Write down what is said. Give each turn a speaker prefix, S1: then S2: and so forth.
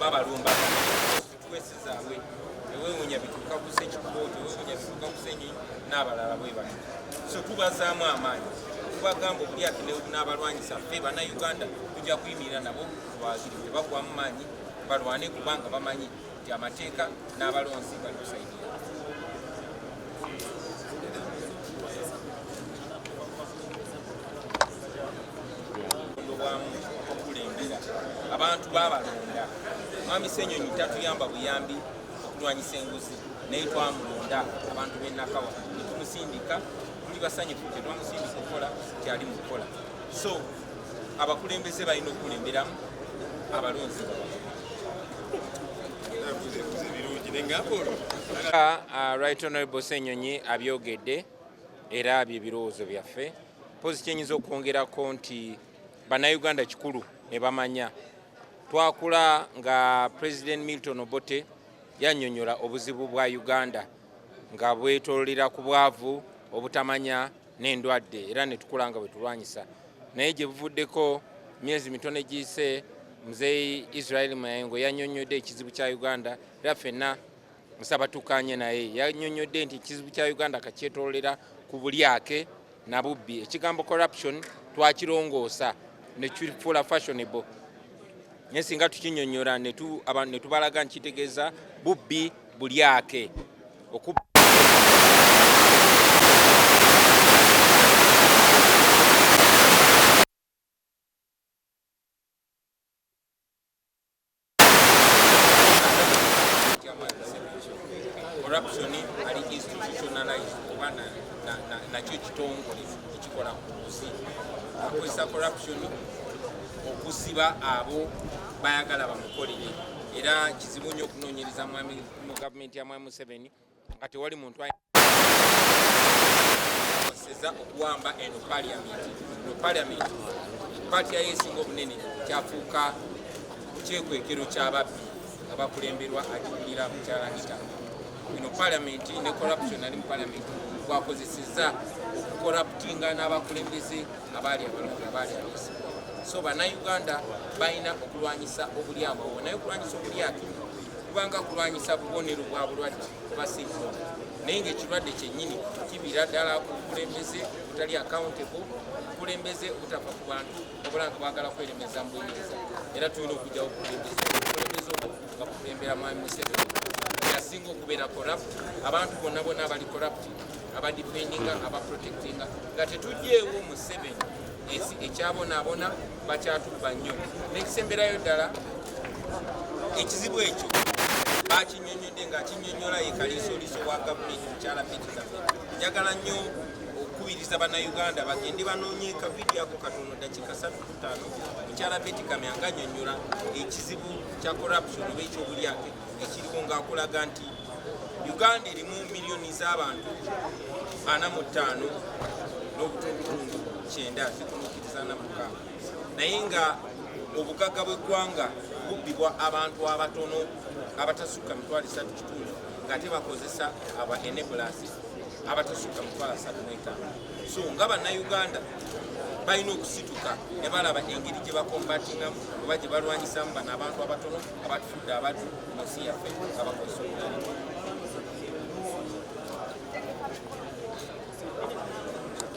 S1: babalumba situwesizaawe ewewunya bituuka ku sekikooto ewewunya bituuka ku senyi n'abalala bwe bati so tubazaamu amaanyi tubagamba obulyake n'abalwanyisa ffe bannayuganda tujja kuyimirira nabo twaziri tebagwamu maanyi balwane kubanga bamanyi nti amateeka n'abalonzi bali kusaidia abantu babalonda mwami senyonyi tatuyamba buyambi okulwanyisa enguzi naye twamulonda abantu benakawa netumusindika tuli basanyufu tetwamusindika okukola kyali mukukola so abakulembeze balina okukulemberamu abalonzi Uh, uh, right honorable senyonyi abyogedde era bye birowoozo byaffe mpozi kyenyinza okwongerako nti bannayuganda kikulu ne bamanya twakula nga president milton obote yanyonyola obuzibu bwa uganda nga bwetololera ku bwavu obutamanya n'endwadde era netukula nga bwetulwanyisa naye gye buvuddeko myezi mitone giyise muzeeyi israel mayengo yanyonyodde ekizibu kya uganda era fenna musaba tukanye naye yanyonyodde nti ekizibu kya uganda kakyetololera ku bulyake na bubbi ekigambo corruption twakirongoosa nekifuula fashionable naye singa tukinyonyola netubalaga nkitegeeza bubbi bulyake corruption ali institutionalized oba nakyo ekitongole ekikola ku nguzi akozesa corruption okusiba abo bayagala bamukolere era kizibu nnyo okunoonyereza mu gavumenti ya mwami museveni nga tewali muntu akozeseza okuwamba eno paliamenti no paliamenti paati yayo esinga obunene kyafuuka kyekwekero kyababbi nga bakulemberwa agikulira mukyalangita eno paliamenti ne corruption ali mu paliamenti gwakozeseza okukolaputinga n'abakulembeze abaali abalongo abaali abesi so banauganda balina okulwanyisa obulyamu awo naye okulwanyisa obulyatu kubanga kulwanyisa bubonero bwa bulwadde kuba sirimu naye ngaekirwadde kyennyini kibira ddala ku bukulembeze obutali accountable obukulembeze obutava ku bantu obula nga bwagala kweremeza mu buyinza era tulina okujjawo obukulembeze obukulembeze obwo nga bukulembera mwami museveni yasinga okubeera corrupt abantu bonna bonna abali corrupt abadifendinga abaprotectinga nga tetugyewo museveni ensi ekyabonaabona bakyatubba nnyo n'ekisemberayo ddala ekizibu ekyo bakinyonyodde nga akinyonyola ye kaliisoliiso wa gavumenti mukyala pekizafe njagala nnyo okukubiriza bannayuganda bagende banoonye kavidiyo ako katono dakiika satu kutaano mukyala betikamya nga anyonyola ekizibu kya corruption oba ekyobulyake ekiriwo ng'akulaga nti uganda erimu miliyoni z'abantu ana mu ttaano n'obutundutundu kyenda zikunuukiriza na mukaaga naye nga obugagga bw'eggwanga bubbibwa abantu abatono abatasukka mitwalo esatu kitundu ng'ate bakozesa aba enebulas abatasukka mitwalo asatu n'etaano so nga bannayuganda balina okusituka ne balaba engeri gye bakombatingamu oba gye balwanyisamu bano abantu abatono abatufudde abaddu munsi yaffe abakozesa obulala